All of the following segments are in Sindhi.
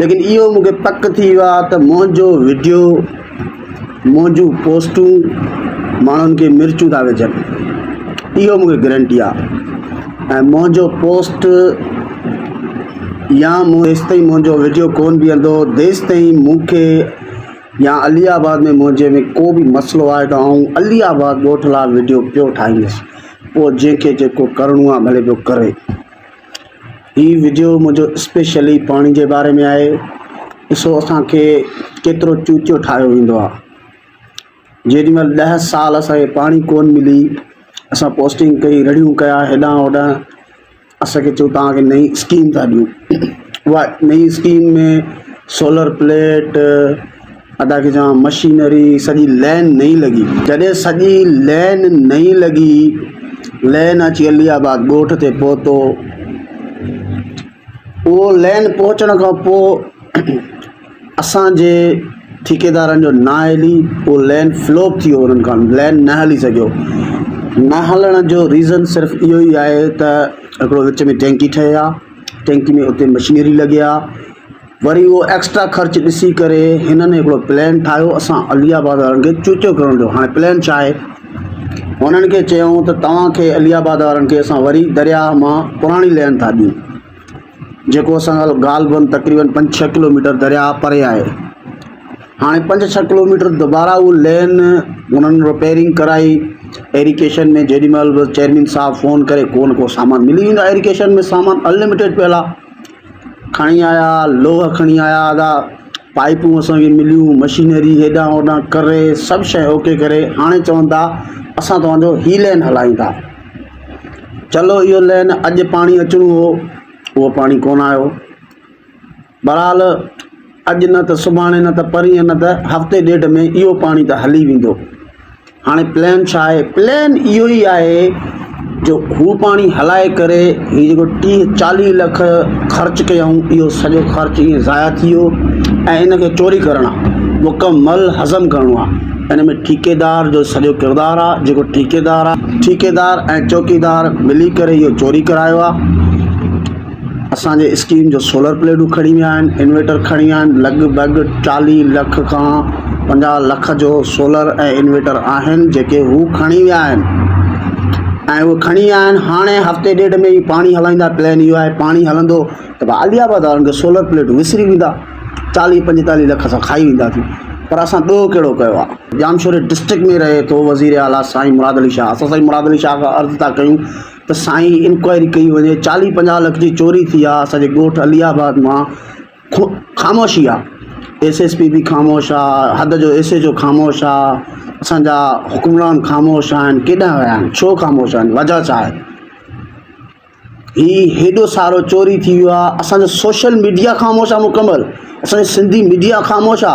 ليڪن اهو مون کي پڪ ٿي ويو آهي ته منهنجو وڊيو منهنجون پوسٽون ماڻهن کي مرچون ٿا وجهن اهو مون کي گرنٽي آهي ۽ منهنجو پوسٽ يا مون ايستائين منهنجو وڊيو ڪون بيهندو تيستائين مون کي يا علي آباد ۾ منهنجي ۾ ڪو به مسئلو آهي ته آئون علي آباد ڳوٺ لاء وڊيو پيو ٺاهيندس پوء جنهن کي جيڪو ڪرڻو آهي ڀلي پيو ڪري هي وڊيو منهنجو اسپيشلي پاڻي جي باري ۾ آهي ڏسو اسان کي ڪيترو چوچو ٺاهيو ويندو آهي جيڏي مهل ڏهه سال اسان کي پاڻي ڪون ملي اسان پوسٽنگ ڪئي رڙيون ڪيا هيڏانهن هوڏانهن اسان کي چيو توهان کي نئي اسڪيم ٿا ڏيون اها نئي اسڪيم ۾ سولر پليٽ ادا کي چوان مشينري سڄي لين نئين لڳي. جڏهن سڄي لين نئين لڳي لين اچي علي آباد ڳوٺ تي پهتو اهو لين پهچڻ کان پوء اسان جي ٺيڪيدارن جو نااهلي اهو لين فلوپ ٿي ويو انهن کان لين نه هلي سگهيو نه هلڻ جو ريزن صرف اهو ئي آهي ته هڪڙو وچ ۾ ٽينڪي ٺهي ها ٽينڪي ۾ اتي مشينري لڳي ها وري اهو ايڪسٽرا خرچ ڏسي ڪري هنن هڪڙو پلان ٺاهيو اسان علي آباد وارن کي چوچو ڪرڻ جو هاڻي پلان ڇا آهي هنن کي چيائون ته توهان کي علي آباد وارن کي اسان وري درياهه مان پراڻي لين ٿا ڏيون جيڪو اسان کان غالبن تقريبن پنج ڇهه ڪلوميٽر درياهه پري آهي هاڻي پنج ڇهه ڪلوميٽر دوبارا اهو لين هنن رپيرنگ ڪرائي ايريڪيشن ۾ جيڏي مهل به چيئرمين صاحب فون ڪري ڪو نه ڪو سامان ملي ويندو ايريڪيشن ۾ سامان انلمٽيڊ پيل آهي کڻي آيا، لوهه کڻي آيا ادا، پائيپون اسان کي مليون، مشينري هيڏانهن هوڏانهن ڪري سڀ شيء اوڪي ڪري هاڻي چون ٿا اسان توهان جو هي لين هلايون ٿا. چلو اهو لين اڄ پاڻي اچڻو هو، اهو پاڻي ڪونه آيو. بهرحال اڄ نه ته سڀاڻي نه ته پرينء نه ته هفتي ڏيڍ ۾ اهو پاڻي ته هلي ويندو. هاڻي پلان ڇا آهي؟ پلان اهو ئي آهي جو هو پاڻي هلائي ڪري هي جيڪو ٽيهه چاليهه لک خرچ ڪيائون اهو سڄو خرچ ائين ضايع ٿي ويو ۽ ان کي چوري ڪرڻ آ مڪمل هضم ڪرڻو آ ان ۾ ٺيڪيدار جو سڄو ڪردار آ جيڪو ٺيڪيدار آ ٺيڪيدار ۽ چوڪيدار ملي ڪري اهو چوري ڪرايو آ. اسان جي اسڪيم جو سولر پليٽون کڻي ويا آهن انورٽر کڻي ويا آهن لڳ ڀڳ چاليهه لک کان پنجاهه لک جو سولر ۽ انورٽر آهن جيڪي هو کڻي ويا آهن ۽ اهي کڻي ويا آهن هاڻي هفتي ڏيڍ ۾ ئي پاڻي هلائيندا پلين اهو آهي پاڻي هلندو ته بس عالي آباد وارن کي سولر پليٽون وسري ويندا چاليهه پنجيتاليهه لک اسان کائي وينداسين پر اسان ڏوهه ڪهڙو ڪيو آهي ڄامشوري ڊسٽرڪٽ ۾ رهي ٿو وزير اعليٰ سائين مراد علي شاهه اسان سائين مراد علي شاهه کان عرض ٿا ڪيون ته سائين انڪوائري ڪئي وڃي چاليهه پنجاهه لک جي چوري ٿي آ اسان جي ڳوٺ علي آباد مان خاموشي آ ايس ايس پي به خاموش آ حد جو ايس ايچ او خاموش آ اسان جا حڪمران خاموش آهن ڪيڏانهن ويا آهن ڇو خاموش آهن وجه ڇا آهي هي هيڏو سارو چوري ٿي ويو آ اسان جو سوشل ميڊيا خاموش آ مڪمل اسان جي سنڌي ميڊيا خاموش آ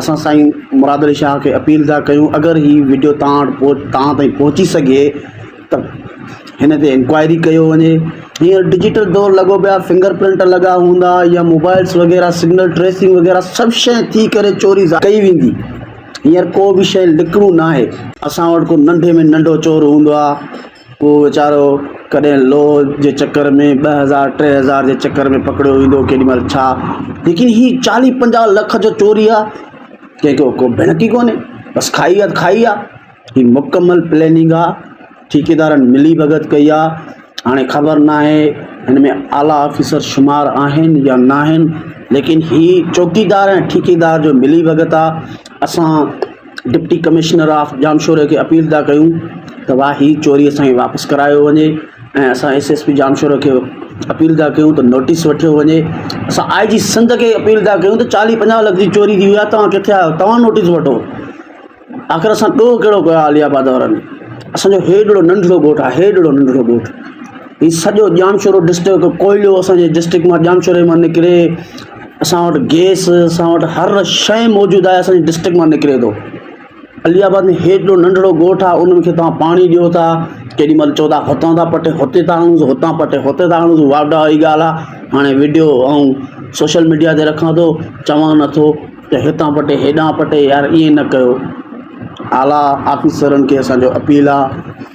اسان سائين مراد علي شاهه کي اپيل ٿا ڪيون اگر هي وڊيو توهان وٽ توهان تائين پهچي سگهي ته هن تي انڪوائري ڪيو وڃي هينئر ڊجيٽل دور لڳو پيو آهي فنگر پرنٽ لڳا هوندا يا موبائلس وغيره سگنل ٽريسنگ وغيره سڀ شي ٿي ڪري چوري ڪئي ويندي هينئر ڪو به شي لڪڻو ناهي اسان وٽ ڪو ننڍي ۾ ننڍو چور هوندو آهي ڪو ويچارو ڪڏهن لوهه جي چڪر ۾ ٻه هزار ٽي هزار جي چڪر ۾ پڪڙيو ويندو ڪيڏي مهل ڇا ليڪن هي چاليهه پنجاهه لک جو چوري آ ڪنهن کي ڪو ڀيڻڪ ئي ڪونهي بس کائي آ کائي آ هي مڪمل پليننگ آ ٺيڪيدارن ملي ڀڳت ڪئي آ هاڻي خبر ناهي هن ۾ اعليٰ آفيسر شمار آهن يا ناهن ليڪن هي چوڪيدار ۽ ٺيڪيدار جو ملي ڀڳت آ اسان ڊپٽي ڪمشنر آف ڄامشوري کي اپيل ٿا ڪيون ته وا هي چوري اسان کي واپس ڪرايو وڃي ۽ اسان ايس ايس پي ڄامشوري کي اپيل ٿا ڪيون ته نوٽيس وٺيو وڃي اسان آء جي سنڌ کي اپيل ٿا ڪيون ته چاليهه پنجاهه لک جي چوري ٿي وئي آهي توهان ڪٿي آهيو توهان نوٽيس وٺو آخر اسان ڏوهه ڪهڙو ڪيو آلي آباد وارن اسانجو هيڏڙو ننڍڙو ڳوٺ آهي هيڏڙو ننڍڙو ڳوٺ هي سڄو ڄامشورو ڊسٽرڪ ڪوئلو اسانجي ڊسٽرڪ مان ڄامشوري مان نڪري اسان وٽ گيس اسان وٽ هر شيء موجود آهي اسان جي ڊسٽرڪٽ مان نڪري ٿو علي آباد ۾ هيڏو ننڍڙو ڳوٺ آهي ان کي توهان پاڻي ڏيو ٿا ڪيڏي مهل چئو ٿا هتان ٿا پٽي هتي ٿا آڻوس هتان پٽي هتي ٿا آڻوس واھ ڊاھ واري ڳالھ آهي هاڻي وڊيو آئون سوشل ميڊيا تي رکان ٿو چوان نٿو ته هتان پٽي هيڏان پٽي يار ائين نه ڪيو اعليٰ آفيسرن کي اسان جو اپيل آهي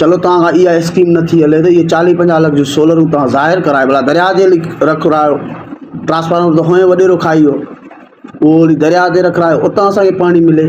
چلو توهان کان اها اسڪيم نه ٿي هلي ته اهي چاليهه پنجاهه لک جون سولرون توهان ظاهر ڪرائي ڀلا درياء تي هلي رکرايو ٽرانسفارمر ته هونئن وڏيرو کائي ويو اهو هلي درياء تي رکرايو اتان اسان کي پاڻي ملي